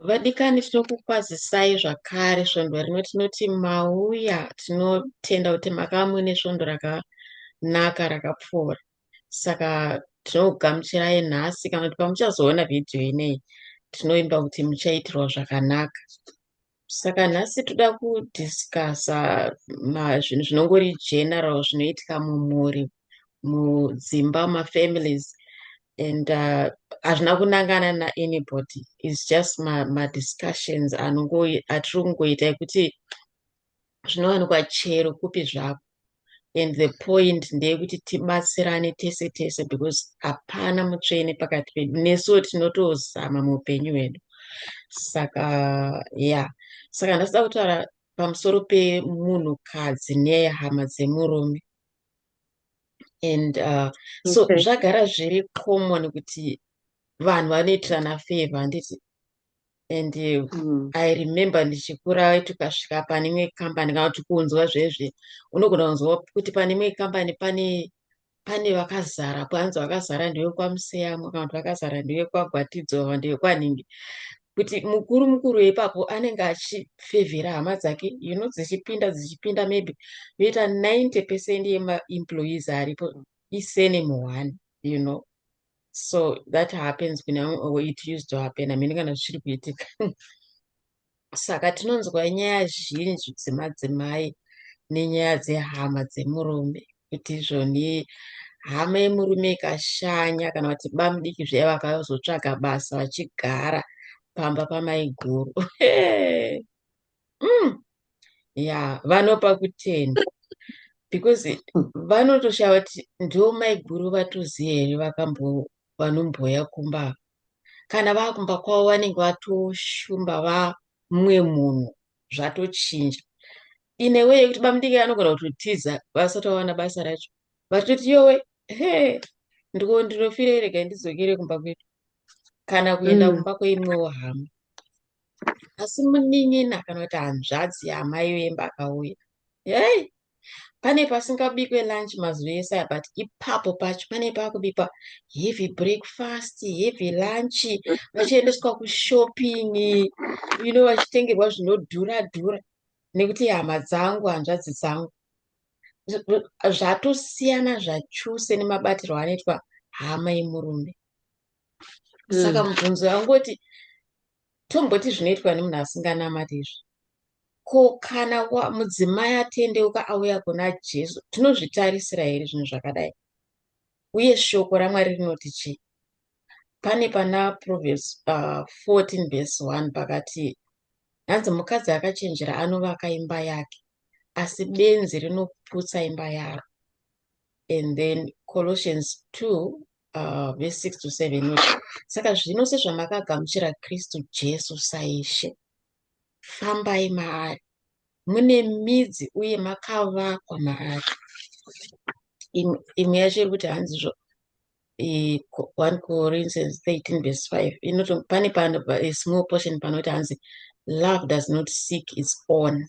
Vadikani tinokukwazisai zvakare svondo rino tinoti mauya tinotenda kuti makava muine svondo rakanaka rakapfuura saka tinokugamuchirai nhasi kana kuti pamuchazoona vhidhiyo ineyi tinoimba kuti muchaitirwa zvakanaka. Saka nhasi toda kudiscussa zvinhu zvinongori general zvinoitika mumhuri mudzimba mafamilies and uh, hazvina uh, kunangana naanybody is just madiscussions ma atiri kungoita ekuti zvinowanikwa chero kupi zvako and the point ndeyekuti tibatsirane tese tese because hapana mutsvene pakati pedu nesuwo tinotozama muupenyu hwedu saka ya yeah. saka ndasida kutaura pamusoro pemunhukadzi nehama dzemurume and uh, so okay. zvagara zviri common kuti vanhu vanoitirana favor handiti and mm. i remember ndichikura waiti ukasvika pane imwe kambani kana kuti kunzwa zvezve unogona kunzwa kuti pane imwe kambani pane pane vakazara kwanzi vakazara ndewekwamuseyamwa kana kuti vakazara ndewekwagwatidzo kana ndewekwanhingi kuti mukuru mukuru ipapo anenge achifevhera hama dzake you know dzichipinda dzichipinda maybe yoita 90 percent yemaemployees aripo isenemu one you know so that happens kune vamwe or it used to happen hamene kana zvichiri kuitika saka tinonzwa nyaya zhinji dzemadzimai nenyaya dzehama dzemurume kuti izvoni hama yemurume ikashanya kana kuti bamudiki zviya vakazotsvaga basa vachigara pamba pamaiguru mm. ya vanopa kutenda because vanotoshava kuti ndo maiguru vatoziva here vakambo vanomboya kumba kana vakumba kwavo vanenge vatoshumba vamwe munhu zvatochinja ine wee yekuti bamudiki anogona kutotiza vasati vawana basa racho vatoti yowe he ndiko ndinofire rega ndizokere kumba kwedu kana kuenda mm. kumba kweimwewo hama asi munin'ina kana kuti hanzvadzi yaamai vemba akauya hei pane pasingabikwe lunch mazuva ese aya but ipapo pacho pane pakubikwa heavy breakfast heavy lunch vachiendeswa kushopping you know vachitengerwa zvinodhura dhura nekuti hama dzangu hanzvadzi dzangu zvatosiyana zvachose nemabatirwo anoitwa hama yemurume saka mm. mubvunzo yangoti tomboti zvinoitwa nemunhu asinganamati izvi ko kana mudzimai atendeuka auya kuna jesu tinozvitarisira here zvinhu zvakadai uye shoko ramwari rinoti chii pane pana proverbs uh, 14 vese 1 pakati hanzi mukadzi akachenjera anovaka imba yake asi benzi rinoputsa imba yaro and then colossians 2 uh, verse 6 to 7 saka zvino sezvamakagamuchira kristu jesu saishe fambai maari mune midzi uye makavakwa maari imwe yacho iri kuti hanzi zvo 1 corinthians 13 verse 5 inoto pane pano small portion panoti hanzi love does not seek its own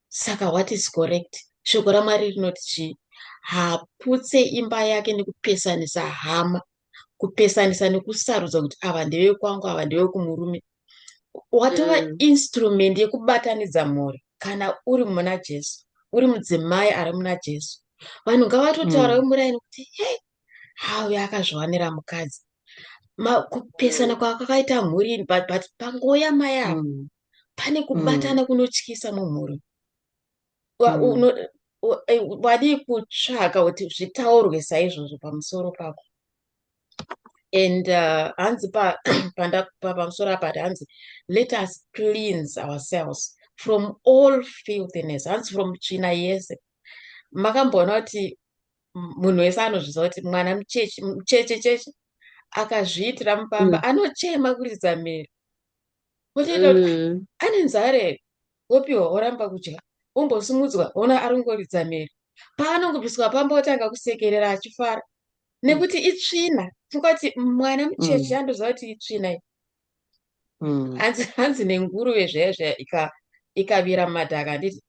saka what is correct shoko ramwari rinoti chii haputse imba yake nekupesanisa hama kupesanisa nekusarudza kuti ava ndeve kwangu ava ndeve kumurume watova mm. instrument yekubatanidza mhuri kana uri muna jesu uri mudzimai ari muna jesu vanhu ngavatotaura mm. vemuraini kuti he hauyo akazviwanira mukadzi kupesana kwakakaita mhuri but pangouya mai ava mm. pane mm. kubatana mm. kunotyisa mumhuri mm. Eh, wadii kutsvaka kuti zvitaurwe saizvozvo pamusoro pako and uh, hanzi pamusoro apa hanzi let us cleanse ourselves from all filthiness hanzi from tsvina yese makamboona kuti munhu wese anozviziva kuti mwana mucheche mucheche cheche akazviitira mupamba mm. anochema kuridza miro wotoita kuti mm. ane nzara here wopiwa woramba kudya wombosimudzwa wona ari kungoridza mhere paanongobviswa pamba otanga kusekerera achifara nekuti itsvina tingati mwana mucheche mm. andoziva kuti itsvina i mm. hanzi hanzi nenguruve zvaya zvaya ikavira mumadhaka handiti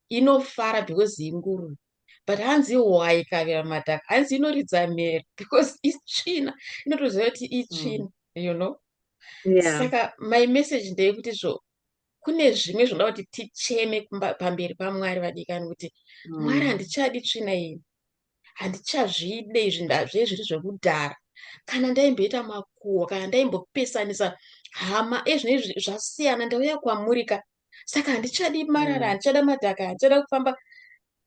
inofara because inguru but hanzi hwai ikavira madhaka hanzi inoridza mhere because itsvina inotoziva kuti itsvina mm. you know yeah. saka my message ndeyekuti zvo kune zvimwe zvinoda kuti ticheme pamberi pamwari vadikani kuti mm. mwari handichadi tsvina iyi handichazvide izvi ndazve zviri zvekudhara kana ndaimboita makuhwa kana ndaimbopesanisa hama ezvino izvi zvasiyana ndauya kwamurika saka handichadi marara mm. handichada madhaka handichada kufamba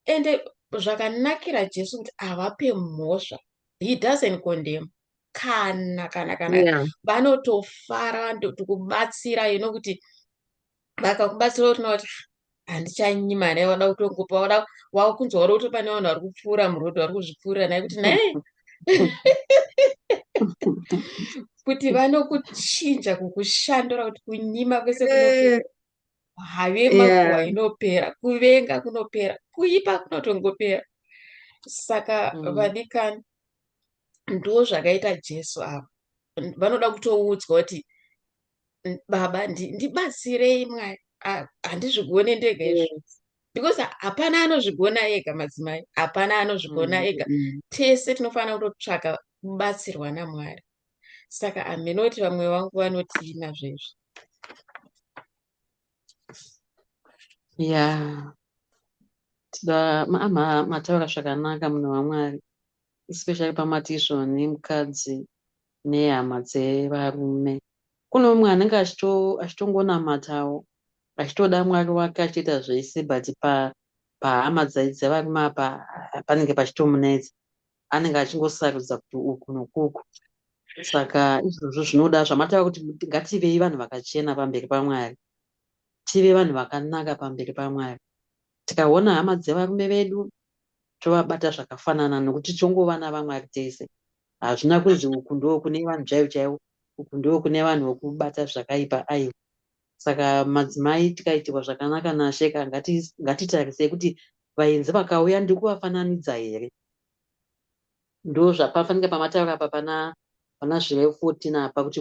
ende zvakanakira jesu kuti havape mhosva he doesn't condemn kana kana kana vanotofara yeah. tikubatsira ino kuti vakakubatsira kuti kuti handichanyi mari yavada kutongopa wada wakunzwa uri kuti pane vanhu vari kupfuura murodhi vari kuzvipfuurira naye kuti naye kuti vanokuchinja kukushandura kuti kunyima kwese kunopera have makuwa inopera kuvenga kunopera kuipa kunotongopera saka mm. vadikani ndo zvakaita jesu ava vanoda kutoudzwa kuti baba ndibatsirei mwari handizvigone ndega izvo because hapana anozvigona ega madzimai hapana anozvigona mm, ega mm. tese tinofanira kutotsvaka kubatsirwa namwari saka aminoti vamwe vangu vanotii nazvezvi ya tida mataura zvakanaka munhu wamwari especially pamati izvoni mukadzi nehama dzevarume. Kune umwe anenge achitongonamatawo achitoda Mwari wake achitoita zvese but pahama dzevarume apa panenge pachitomunetsa. Anenge achingosarudza kuti uku nokuku. Saka izvozvo zvinoda zvamatava kuti ngativei vanhu vakachena pamberi paMwari. Tive vanhu vakanaka pamberi paMwari. Tikaona hama dzevarume vedu tovabata zvakafanana nokuti tongova navaMwari tese. Hazvina kunzi uku ndoo kune vanhu chaivo chaivo, uku ndoo kune vanhu vokubata zvakaipa aiwa. Saka madzimai tikaitirwa zvakanaka naShe ka ngati, ngatitarisei kuti vaenzi vakauya ndiri kuvafananidza here. Ndozvapafanike pamataura apa pana pana zvirevo 14 apa kuti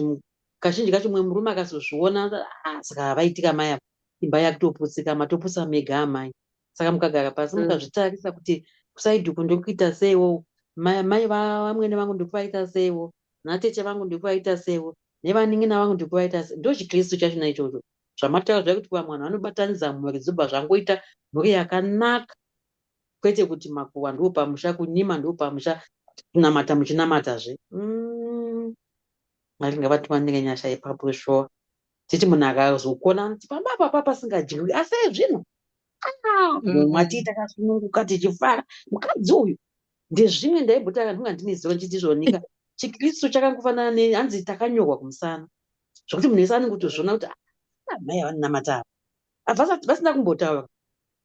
kazhinji kacho mumwe murume akazozviona ah, saka havaitika mai apa imba yakutoputsika matopusa mega amai saka mukagara pasi mm. mukazvitarisa kuti kusaidi uku ndokuita seiwo mai vamwene vangu ndikuvaita seiwo natete vangu ndikuvaita seiwo nevanin'ina vangu ndikuvaita sei ndochikristu chacho na ichocho zvamataura zvakuti vamwe vanhu vanobatanidza mhuri dzobva zvangoita mhuri yakanaka kwete kuti makuwa ndiwo pamusha kunyima ndiwo pamusha kunamata muchinamata zve mm. mwari ngavatiwanire nyasha ipapo shuwa titi munhu akazokona anoti pamba papa pasingadyiwi asi ezvino mumwa ah, tii takasununguka tichifara mukadzi uyu ndezvimwe ndaibhutaka ndinga ndine ziva ndichiti zvonika chikristu chakangofanana ne hanzi takanyorwa kumusana zvokuti munhu wese anenge kutozviona kuti ah, amai avanonamata ava avasati vasina kumbotaura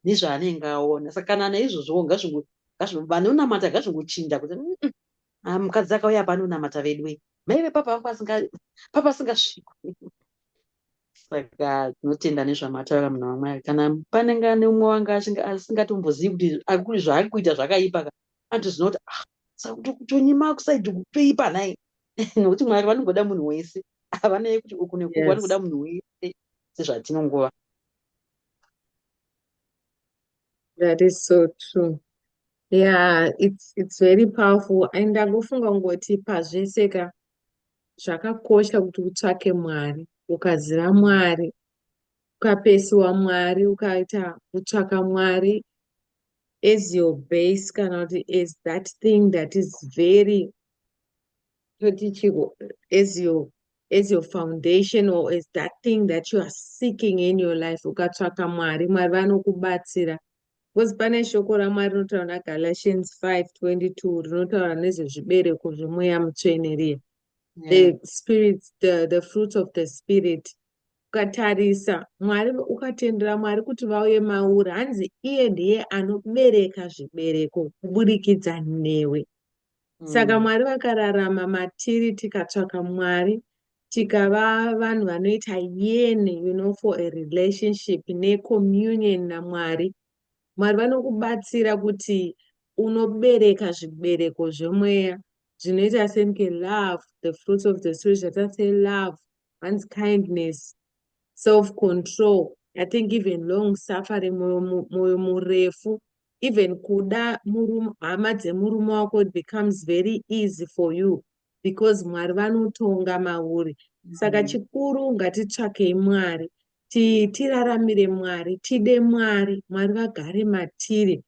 nezvaanenge aona saka kana naizvozvowo ngazvingo ngazvingo vanonamata ngazvingochinja kuti "Mm, mm, ah, mukadzi akauya apa anonamata veduwe maive papa vangu asinga- papa asingasvikwi saka tinotenda nezvamataura munhu wamwari kana panenge ane umwe wanga asinga- asingatombozivi kuti akuri zvaari kuita zvakaipa ka anotozina kuti ah saka kuti kutonyima kusaidi kutoipa nhai nokuti mwari vanongoda munhu wese havanaye kuti uku nekuku Yes. vanongoda munhu wese sezvatinongova That is so true. Yeah, it's it's very powerful and ndakufunga kungoti pazvese ka zvakakosha kuti utsvake Mwari. Ukaziva Mwari, ukapesiwa Mwari, ukaita kutsvaka Mwari as your base kana kuti as that thing that is very toti chiko as your as your foundation or as that thing that you are seeking in your life ukatsvaka mwari mwari vanokubatsira because pane shoko ramwari rinotaura nagalatians 5 22 rinotaura nezvezvibereko zvemweya mutsvene riya yeah. the spirit the, the fruits of the spirit ukatarisa mwari ukatendera mwari kuti vauye mauri hanzi iye ndiye anobereka zvibereko kuburikidza newe saka mm. mwari vakararama matiri tikatsvaka mwari tikava vanhu vanoita yene you know for a relationship necommunion namwari mwari vanokubatsira kuti unobereka zvibereko zvemweya zvinoita senke love the fruits of the spirit zvatasei love one's kindness self control i think even long suffering moyo murefu even kuda murume hama dzemurume wako it becomes very easy for you because mwari vanotonga mauri saka mm-hmm. chikuru ngatitsvakei mwari tiraramire mwari tide mwari mwari vagare matiri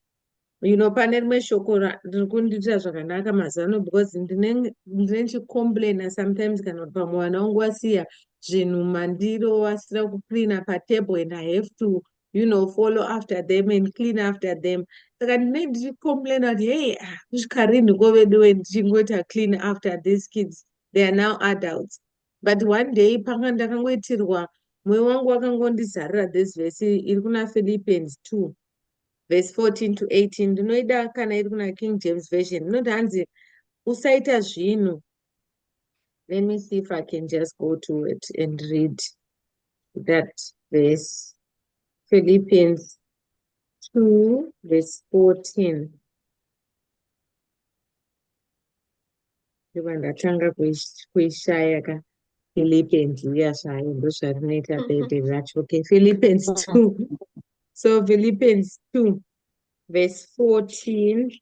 you know pane rimwe shoko riri kundiitira zvakanaka mazano because ndine chicomplaina sometimes kana kuti pamwe vana wangu wasiya zvinhu mandiro wasira kucleana patable and i have to you know follow after them and clean after them saka ndine ndichicomplaina kuti hey ah, kusvika rinhi ko veduwe ndichingoita clean after these kids they are now adults but one day panga ndakangoitirwa mwoyo wangu wakangondizarira this vhesi iri kuna philippians two vhesi 14 to 18 ndinoida kana iri kuna king james version inoti hanzi usaita zvinhu Let me see if I can just go to it and read that verse. Philippians 2, verse 14. ndatanga kuishaya ka philippians uya zvayo ndozvarinoita bebe zvacho okay philippians 2 so philippians 2 verse 14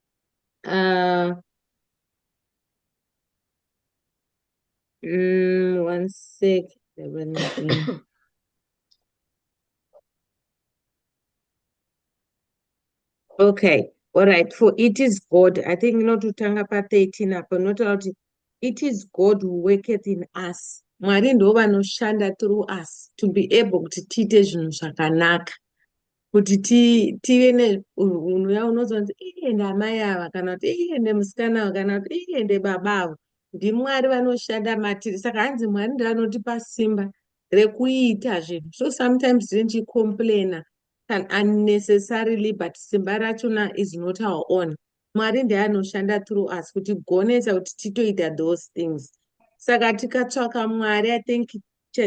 Uh, mm, one sec. okay all right for it is god i think inototanga pa13 apo inotaura kuti it is god who worketh in us mwari ndo vanoshanda through us to be able kuti tiite zvinhu zvakanaka kuti tive neunhuya unoziva kuti iye ndamai ava kana kuti iye nemusikana ava kana kuti iye ndebaba avo ndimwari vanoshanda matiri saka hanzi mwari ndivanotipa simba rekuita zvinhu so sometimes tinechicomplaina an unnecessarily but simba rachona is not our own Mwari ndiye anoshanda through us kuti gonesa kuti titoita those things saka tikatsvaka Mwari I think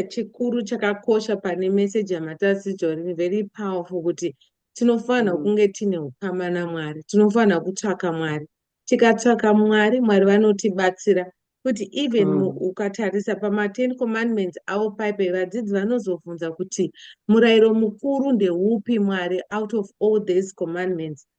chikuru chakakosha pane message yamatasidzwa rini very powerful kuti tinofanirwa mm. kunge tine ukama naMwari tinofanirwa kutsvaka Mwari tikatsvaka Mwari Mwari vanotibatsira kuti even mm. ukatarisa pamaten commandments avo paipe vadzidzi vanozobvunza kuti murayiro mukuru ndeupi mwari out of all these commandments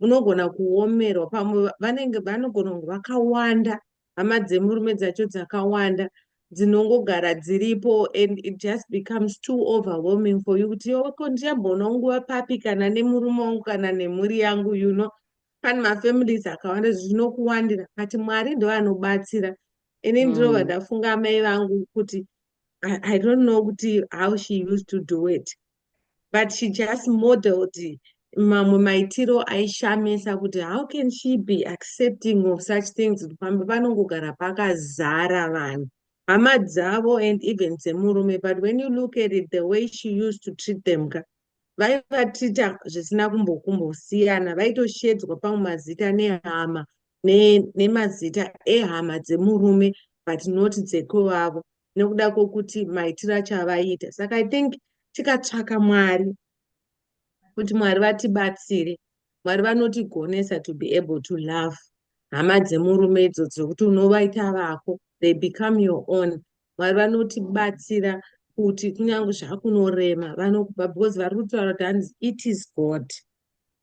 munogona kuomerwa pamwe vanenge vanogona kunge vakawanda hama dzemurume dzacho dzakawanda dzinongogara dziripo and it just becomes too overwhelming for you kuti yoko ndichamboonawo nguva papi kana nemurume wangu kana nemhuri yangu you know pane mafamilies akawanda zvinokuwandira but mwari ndoanobatsira ini ndinova mm. ndafunga amai vangu kuti I, I don't know kuti how she used to do it but she just modeled mamwe maitiro aishamisa kuti how can she be accepting of such things pamba panongogara pakazara vanhu hama dzavo and even dzemurume but when you look at it the way she used to treat them ka vaivatreata zvisina kumbokumbosiyana vaitoshedzwa pamwe mazita nehama nemazita ne ehama dzemurume but not dzekwevavo nekuda kwokuti maitiro acho avaiita saka i think tikatsvaka mwari kuti mwari vatibatsire mwari vanotigonesa to be able to love hama dzemurume idzo dzokuti unovaita vako they become your own mwari vanotibatsira kuti kunyange zvakunorema vanokupa because vari kutaura kuti hanzi it is god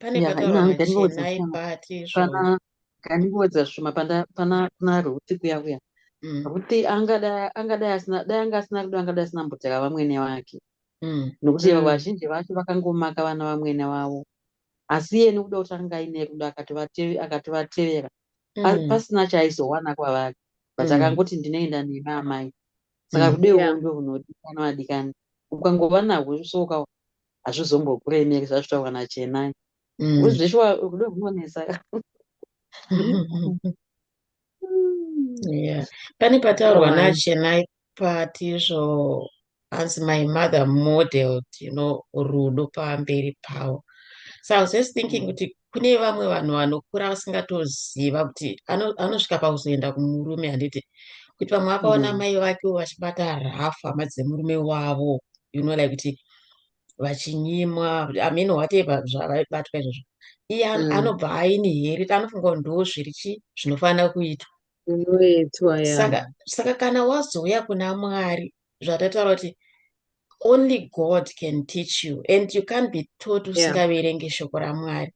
pane Yeah, pataura ino handikandikodza machenai zvishoma. pati izvozvo Pana kandikodza zvishoma pana pana kuna Ruti kuya kuya. Mm, Ruti angadai angadai asina dai anga asina rudo angadai asina mboteka vamwene vake. mm, Nokuti mm, vazhinji vacho vakangomaka vana vamwene vavo. Asi iye nekuda kuti anga aine rudo akatovateve akatovatevera pa- mm, pasina chaaizowana kwavari. But mm, akangoti ndinoenda nemi amai. saka mm. rudo irworwo ndo runodikanwa adikani ukangova nahwo zvisoka hazvizombokuremeri zvazvitaurwa nachenai mm. zveshuwa rudo rwunonetsa yeah. pane pataurwa nachenai patizvo hanzi my mother modeled you know rudo pamberi pavo so i was just thinking mm. kuti kune vamwe vanhu vanokura vasingatoziva kuti anosvika pakuzoenda kumurume handiti kuti vamwe vakaona mm. mai vake vachibata rafu hama dzemurume wavo you know like kuti vachinyimwa i mean whatever zvavabatwa izvozvo iye mm. anobva aine here anofunga kuti ndo zviri chi zvinofanira kuitwa saka kana wazouya kuna mwari zvatataura kuti only god can teach you and you can't be taught usingaverenge shoko ramwari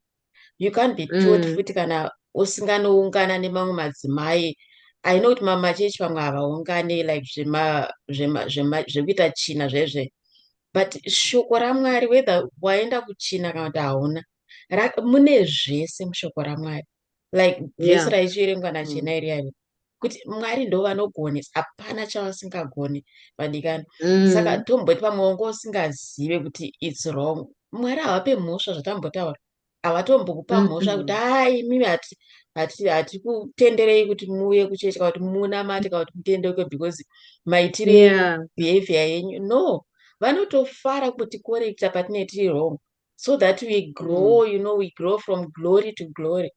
you can't be taught mm. futi kana usinganoungana nemamwe madzimai i know kuti mamachechi pamwe havaungane like zvekuita china zvezve but shoko ramwari whether waenda kuchina kana kuti hauna mune zvese mushoko ramwari like vhesi raichiverengwa nachena mm. iri yari kuti mwari ndo vanogone hapana chavasingagone vadikani mm. saka tomboti pamwe wanga usingazive kuti its wrong mwari havape mhosva zvatambotaura havatombokupa mm, mhosva kuti haa imimi hatikutenderei kuti muuye kuchechi kana kuti munamate kana kuti mutendeuke because maitire behavior yenyu no vanotofara kuti korekta patinetiri wrong so that we grow mm. you know we grow from glory to glory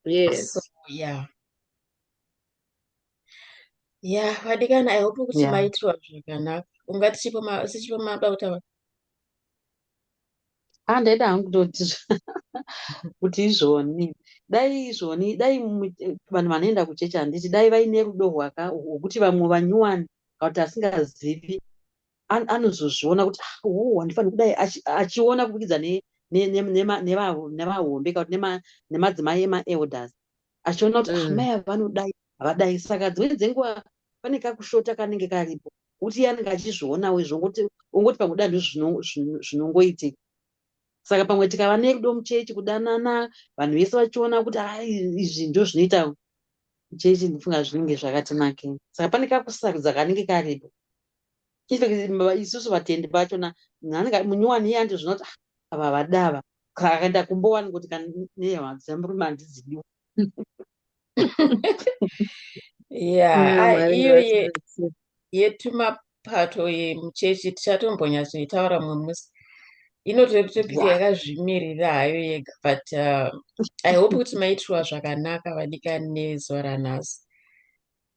yes so, yeah yeah vadikana i hope kuti yeah. maitirwa zvakanaka unga tichipo mada kutaura handaida ah, hangu kutoti kuti izvoni dai izvoni dai vanhu vanoenda kuchechi handiti dai vaine rudo rwaka rwokuti vamwe vanyuwani kauti asingazivi anozozviona kuti ah, oh, handifaniri kudai achiona kubudikidza nevahombe kana kuti nemadzimai emaelders achiona kuti ah, mm. mai ava vanodai havadai saka dzimweni dzenguva pane kakushota kanenge karipo kuti iye anenge achizvionawo izvo ongoti pamwe danhu zvinongoitika saka pamwe tikava nerudo muchechi kudanana vanhu vese vachiona kuti a ah, izvi ndo zvinoita muchechi ndifunga zvinenge zvakatinakei saka pane kakusarudza kanenge karipo isusu vatendi vacho na nanga munyowani iye andi zvinoti ah, ava vadava akaenda kumbowani kuti kaneyamadzamrume andiziviwo iyo yetumapato yemuchechi tichatombonyatsoitaura mumwe musi inototopika yakazvimirira hayo yega but uh, i hope kuti maitirwa zvakanaka vadikani nezuva ranhasi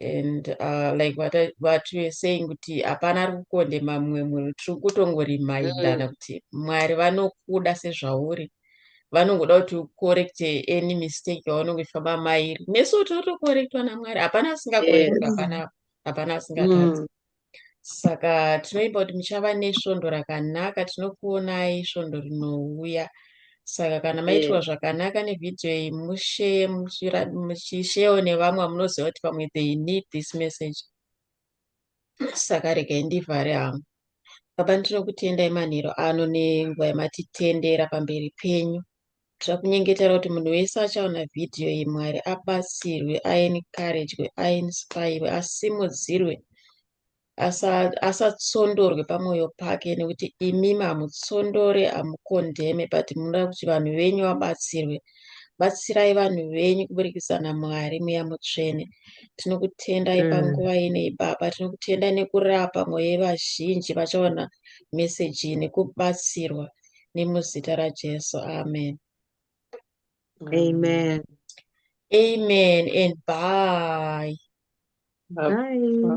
and uh, like what, I, what you're saying kuti hapana ari kukondema mumwe munhu tiri kutongorimindana mm. kuti mwari vanokuda sezvauri vanongoda kuti ukorekte any mistake yaunenge uchifamba mairi nesu tinotokorektwa namwari hapana asingakorektwa hapana hapana asingatadzi mm. saka tinoimba kuti muchava nesvondo rakanaka tinokuonai svondo rinouya saka kana maitirwa yeah. zvakanaka nevhidhiyo iyi musheye muchisheyewo nevamwe vamunoziva kuti pamwe they need this message saka regai ndivhare hangu baba ndinokutendai manhero ano nenguva yamatitendera pamberi penyu Zvakunyengetera kuti munhu wese achaona vhidhiyo iyi Mwari abatsirwe, aencouragwe, ainspirwe, asimudzirwe, asa- asatsondorwe pamwoyo pake nekuti imi hamutsondore, hamukondeme but munoda kuti vanhu venyu vabatsirwe. Batsirai vanhu venyu kuburikidza naMwari Mweya Mutsvene. Tinokutendai Mm. panguva inei Baba, tinokutendai nekurapa mwoyo yevazhinji vachaona meseji iyi nekubatsirwa. nemuzita raJesu. Amen. Amen. Amen and bye. Bye.